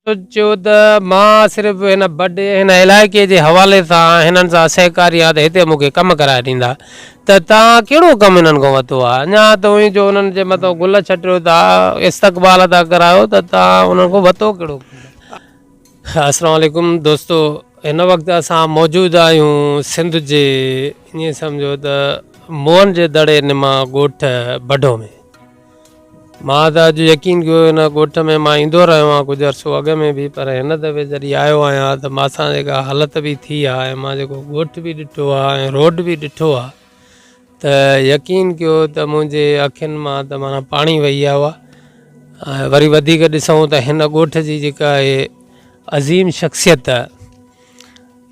سوچيو ته مان صرف هن بڊ هن علائقي جي حوالي سان هنن سان سهڪاري آهيان ته هتي مون کي ڪم ڪرائي ڏيندا ته توهان ڪهڙو ڪم هنن کان ورتو آهي اڃا توهين جو هنن جي مٿان گل ڇٽيو ٿا استقبال ٿا ڪرايو ته توهان هنن کان ورتو ڪهڙو ڪم السلام عليڪم دوستو هن وقت اسان موجود آهيون سنڌ جي ائين سمجهو ته موهن جي دڙي نما ڳوٺ بڊو ۾ مان ته اڄ يقين ڪيو هن ڳوٺ ۾ مان ايندو رهيو آهيان ڪجهه عرصو اڳ ۾ به پر هن دفعي جڏهن آيو آهيان ته مان سان جيڪا حالت به ٿي آهي ۽ مان جيڪو ڳوٺ به ڏٺو آهي ۽ روڊ به ڏٺو آهي ته يقين ڪيو ته منهنجي اکين مان ته مانا پاڻي وهي آيو آهي وري وڌيڪ ڏسون ته هن ڳوٺ جي جيڪا عظيم شخصيت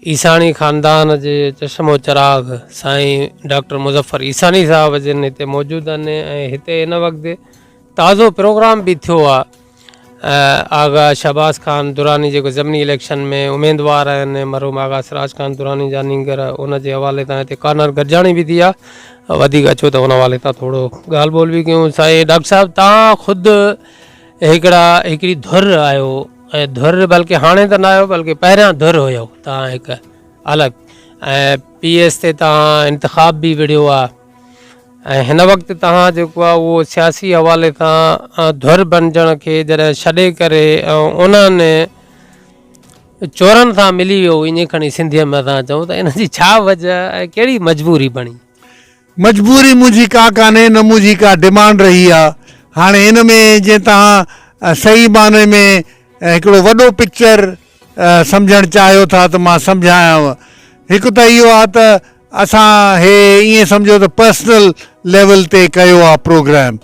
عيساڻي خاندان جي چشم و چراغ سائين ڊاڪٽر مظفر عيساڻي صاحب جن هتي موجود آهن ۽ هتي ان وقت تازو پروگرام به ٿيو آهي آغا شهباز خان دراني جيڪو ضمني اليڪشن ۾ اميدوار آهن مرحوم آغا سراج خان دراني جا نينگر ان جي حوالي تان هتي ڪارنر گڏجاڻي به ٿي آهي وڌيڪ اچو ته ان حوالي تان ٿورو ڳالهه ٻولهه به ڪيون سائين ڊاڪٽر صاحب تان خود هڪڙا هڪڙي ڌر آيو ۽ ڌر بلڪه هاڻي ته نه آيو بلڪه پهريان ڌر هيو تان هڪ الڳ ۽ پي ايس تي تان انتخاب به وڙهيو آ ۽ هن وقت تان جيڪو آ اهو سياسي حوالي تان ڌر بنجڻ کي جڏهن ڇڏي ڪري انهن چورن سان ملي ويو ايئن کڻي سنڌي ۾ اسان چئون ته ان جي ڇا وجه ۽ ڪهڙي مجبوري بڻي مجبوري منهنجي ڪا ڪانهي نه منهنجي ڪا ڊمانڊ رهي آ هاڻي ان ۾ جي توهان صحيح معني ۾ هڪڙو وڏو پڪچر سمجهڻ چاهيو ٿا ته مان سمجهايانو هڪ ته اهو آ ته اسان هي ائين سمجهو ته پرسنل ليول تي ڪيو آ پروگرام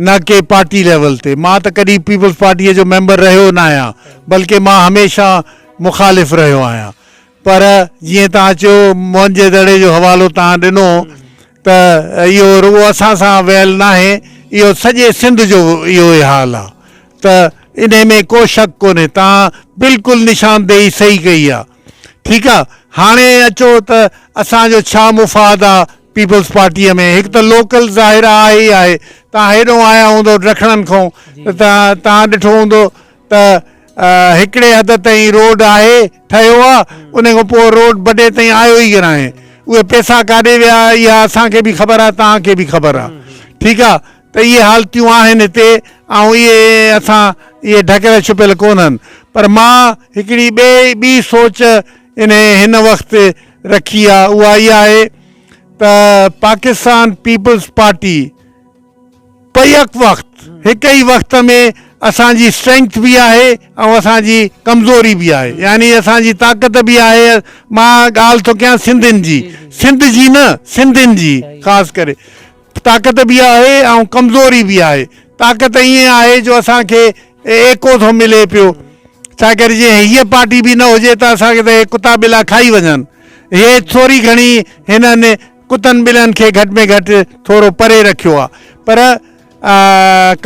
نه ڪي پارٽي ليول تي مان ته ڪڏهن پيپلز پارٽي جو ميمبر رهيو ناهيان بلڪه مان هميشه مخالف رهيو آهيان پر جيئن توهان چيو موئن جي دڙي جو حوالو توهان ڏنو ته اهو رڳو اسان سان ويل ناهي اهو سڄي سنڌ جو اهو ئي حال آ ته انهي ۾ ڪو شڪ ڪونهي توهان بلڪل نشاندهي صحيح ڪئي آ ٺيڪ آ هاڻي اچو ته اسان جو ڇا مفاد آ پيپلز پارٽي ۾ هڪ ته لوڪل ظاهر آ آهي ئي آهي توهان هيڏهون آيا هوندؤ ڊکڻن کون ته توهان ڏٺو هوندو ته هڪڙي حد تائين روڊ آهي ٺهيو آ ان کان پوء روڊ بڊي تائين آيو ئي ڪونه آهي اهي پيسا ڪاڏي ويا اها اسان کي به خبر آ توهان کي به خبر آ ٺيڪ آ ته اهي حالتيون آهن هتي ۽ اهي اسان اهي ڍڪيل ڇپيل ڪونهن پر مان هڪڙي ٻئي ٻي سوچ انهي هن وقت رکي آ اها اها آهي ته پاڪستان پيپلز پارٽي پر يڪ وقت هڪ ئي وقت ۾ اسان جي اسٽرينگٿ به آهي ۽ اسان جي ڪمزوري به آهي يعني اسان جي طاقت به آهي مان ڳالهه ٿو ڪيان سنڌين جي سنڌ جي نه سنڌين جي خاص ڪري طاقت به آهي ۽ ڪمزوري به آهي طاقت ائين آهي جو اسان کي ايڪو ٿو ملي پيو ڇا ڪري جي هيء پارٽي به نه هجي ته اسان کي ته هي ڪتا ٻلا کائي وڃن هي ٿوري گهڻي هنن ڪتن ٻلن کي گهٽ ۾ گهٽ ٿورو پري رکيو آهي پر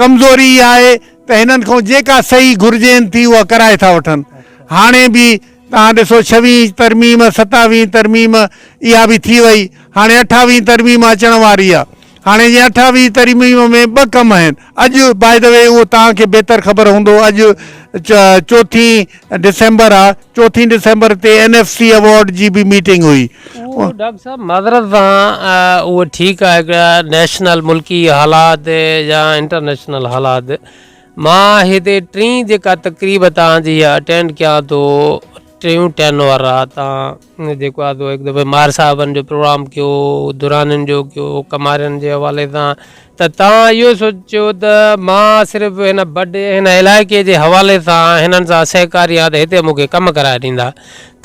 ڪمزوري اها آهي ته هنن کان جيڪا صحيح گهرجين ٿي اها ڪرائي ٿا وٺن هاڻي به توهان ڏسو ڇويهين ترميم ستاويهين ترميم اها به ٿي وئي هاڻي اٺاويهين ترميم اچڻ واري آهي هاڻي جي اٺاويهين ترميم ۾ ٻه ڪم آهن اڄ بائي دي وي اهو توهان کي بهتر خبر هوندو اڄ چوٿين ڊسمبر آ چوٿين ڊسمبر تي اين ايف سي اوارڊ جي به ميٽنگ هئي. ڊاڪٽر صاحب معذرت سان اهو ٺيڪ آهي ڪه نيشنل ملڪي حالات يا انٽرنيشنل حالات مان هتي ٽين جيڪا تقريب توهان جي اٽينڊ ڪيان ٿو ٽيون ٽين وارا تان جيڪو آ سو هڪ دفعي مار صاحبن جو پروگرام ڪيو درانين جو ڪيو ڪمارين جي حوالي سان ته توهان اهو سوچيو ته مان صرف هن بڊ هن علائقي جي حوالي سان هنن سان سهڪاري آهيان ته هتي مون کي ڪم ڪرائي ڏيندا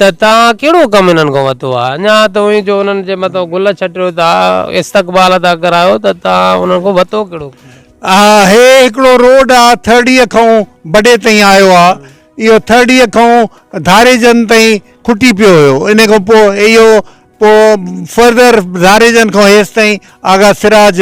ته توهان ڪهڙو ڪم هنن کان وتو آ اڃا توهين جو هنن جي مٿان گل ڇٽيو ٿا استقبال ٿا ڪرايو ته توهان هنن کان وتو ڪهڙو ڪم آ هي هڪڙو روڊ آ ٿرڙيء کان بڊي تائين آيو آ اهو ٿرڙيء کان ڌاريجن تائين کٽي پيو هيو. انهيء کان پوء اهو پوء فرضر ڌاريجن کان هيس تائين آغا سراج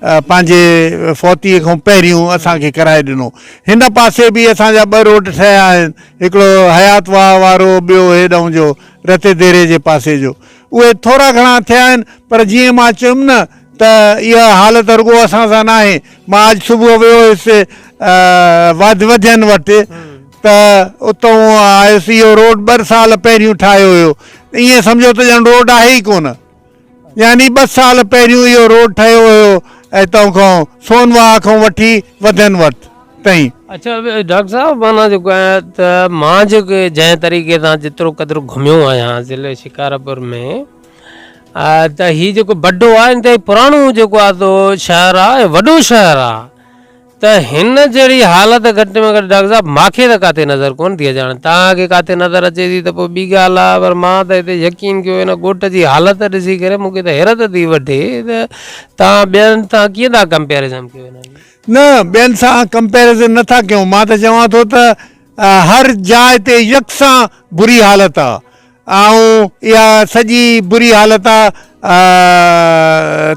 پنهنجي فوتيء کان پهريون اسان کي ڪرائي ڏنو. هن پاسي به اسان جا ٻه روڊ ٺهيا آهن، هڪڙو حيات واهه وارو، ٻيو هيڏانهن جو رتيديري جي پاسي جو. اهي ٿورا گهڻا ٿيا آهن، پر جيئن مان چيم نه ته اها حالت رڳو اسان سان ناهي. مان اڄ صبح ويو هيس واڌ وڌين وٽ ته اتئون آيس اهو روڊ ٻه سال پهريون ٺاهيو هيو ايئن سمجهو ته ڄڻ روڊ آهي ئي ڪونه يعني ٻه سال پهريون اهو روڊ ٺهيو هيو اتئون کان سون واهه کان وٺي وڌين وٽ تائين. اڇا ڊاڪٽر صاحب معنيٰ جيڪو آهي ته مان جيڪو جنهن طريقي سان جيترو قدر گهميو آهيان ضلعي شڪارپور ۾ ته هي جيڪو بڊو آهي انتهائي پراڻو جيڪو آ تو شهر آ وڏو شهر آ ته هن جهڙي حالت گهٽ ۾ گهٽ ڊاڪٽر صاحب ماکي ته ڪاتي نظر ڪون ٿي اچاڻ تان کي ڪاتي نظر اچي ٿي ته پوء ٻي ڳالهه آ پر مان ته هتي يقين ڪيو هن ڳوٺ جي حالت ڏسي ڪري مونکي ته حيرت ٿي وٺي ته تان ٻين تان ڪيئن ٿا ڪمپيرزن ڪيو هن جي نه ٻين سان ڪمپيرزن نه ٿا ڪيون مان ته چوان ٿو ته هر جاء تي يڪسان بري حالت آ آئون اها سڄي بري حالت آ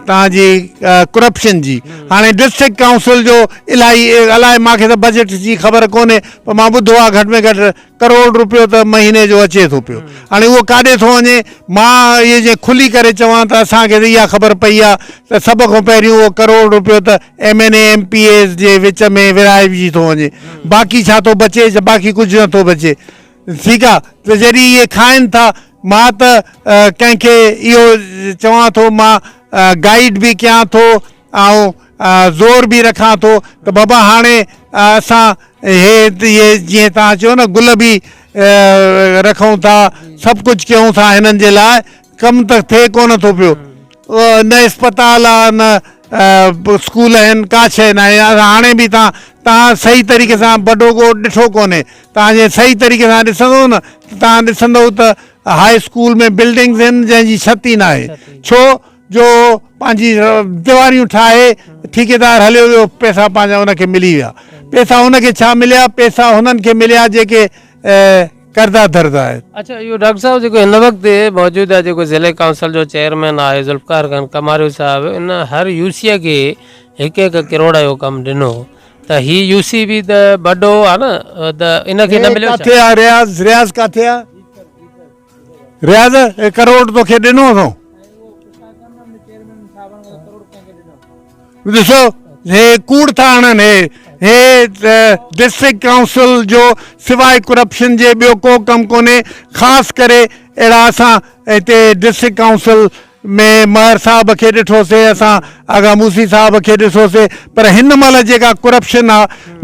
توهان جي ڪرپشن جي هاڻي ڊسٽرڪٽ ڪائونسل جو الاهي الائي مان کي ته بجيٽ جي خبر ڪونهي پر مان ٻڌو آ گهٽ ۾ گهٽ ڪروڙ روپيو ته مهيني جو اچي ٿو پيو هاڻي اهو ڪاڏي ٿو وڃي مان اهي جي کلي ڪري چوان ته اسان کي ته اها خبر پئي آ ته سڀ کان پهريون اهو ڪروڙ روپيو ته M N A M P As جي وچ ۾ ورهائجي ٿو وڃي باقي ڇا ٿو بچي باقي ڪجهه نه ٿو بچي سيگا، ته جڏهن اهي کائن ٿا، مان ته ڪنهن کي اهو چوان ٿو، مان گائيڊ به ڪيان ٿو ۽ زور به رکان ٿو ته بابا هاڻي اسان هي اهي جيئن توهان چيو نه گل به رکون ٿا، سڀ ڪجهه ڪيون ٿا هنن جي لاء، ڪم ته ٿئي ڪونه ٿو پيو نه اسپتال آ نه اسڪول آهن ڪا شيء ناهي هاڻي به تان تان صحيح طريقي سان بڊو ڳوٺ ڏٺو ڪونهي تان جي صحيح طريقي سان ڏسندو نه تان ڏسندو ته هاء اسڪول ۾ بلڊنگز آهن جنهن جي ڇت ئي ناهي ڇو جو پنهنجي ديواريون ٺاهي ٺيڪيدار هليو ويو پيسا پنهنجا ان کي ملي ويا پيسا ان کي ڇا مليا پيسا هنن کي مليا جيڪي ڪردا ڌردا آهن. اچا اهو ڊاڪٽر صاحب جيڪو هن وقت موجوده جيڪو ضلعي ڪائونسل جو چيئرمين آهي ذوالفقار خان ڪماريو صاحب ان هر يوسيء کي هڪ هڪ ڪروڙ جو ڪم ڏنو ته هي يوسي به ته ٻڍو آ نه ته ان کي نه مليو ڇا؟ ڪاٿي آ رياض رياض ڪاٿي آ رياض هي ڪروڙ توکي ڏنو اٿئون. ڏسو هي ڪوڙ ٿا هڻن هي هي ڊسٽرڪٽ ڪائونسل جو سواء ڪرپشن جي ٻيو ڪو ڪم ڪونهي خاص ڪري اهڙا اسان هتي ڊسٽرڪٽ ڪائونسل ۾ مهر صاحب کي ڏٺوسي اسان آغا موسي صاحب کي ڏسوسي پر هن مهل جيڪا ڪرپشن آ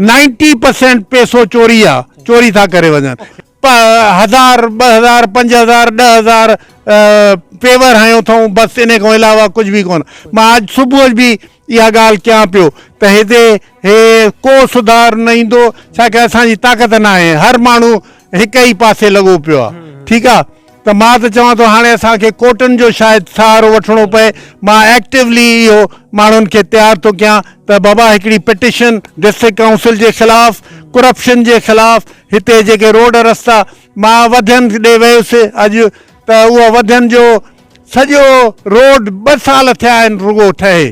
نائنٽي پرسينٽ پيسو چوري آ چوري ٿا ڪري وڃن هزار، ٻه هزار، پنج هزار، ڏهه هزار پيور هنيو اٿئون بس انهي کان علاوه ڪجهه به ڪونه. مان اڄ صبح جو به اها ڳالهه ڪيان پيو ته هتي هي ڪو سڌار نه ايندو ڇاڪه اسان جي طاقت ناهي هر ماڻهو هڪ ئي پاسي لڳو پيو آهي ٺيڪ آهي. ته مان ته چوان ٿو هاڻي اسان کي ڪورٽن جو شايد سهارو وٺڻو پئي مان ايڪٽيولي اهو ماڻهن کي تيار ٿو ڪيان ته بابا هڪڙي پٽيشن ڊسٽرڪٽ ڪائونسل جي خلاف ڪرپشن جي خلاف هتي جيڪي روڊ رستا مان وڌين ڏي ويس اڄ ته اهو وڌين جو سڄو روڊ ٻه سال ٿيا آهن رڳو ٺهي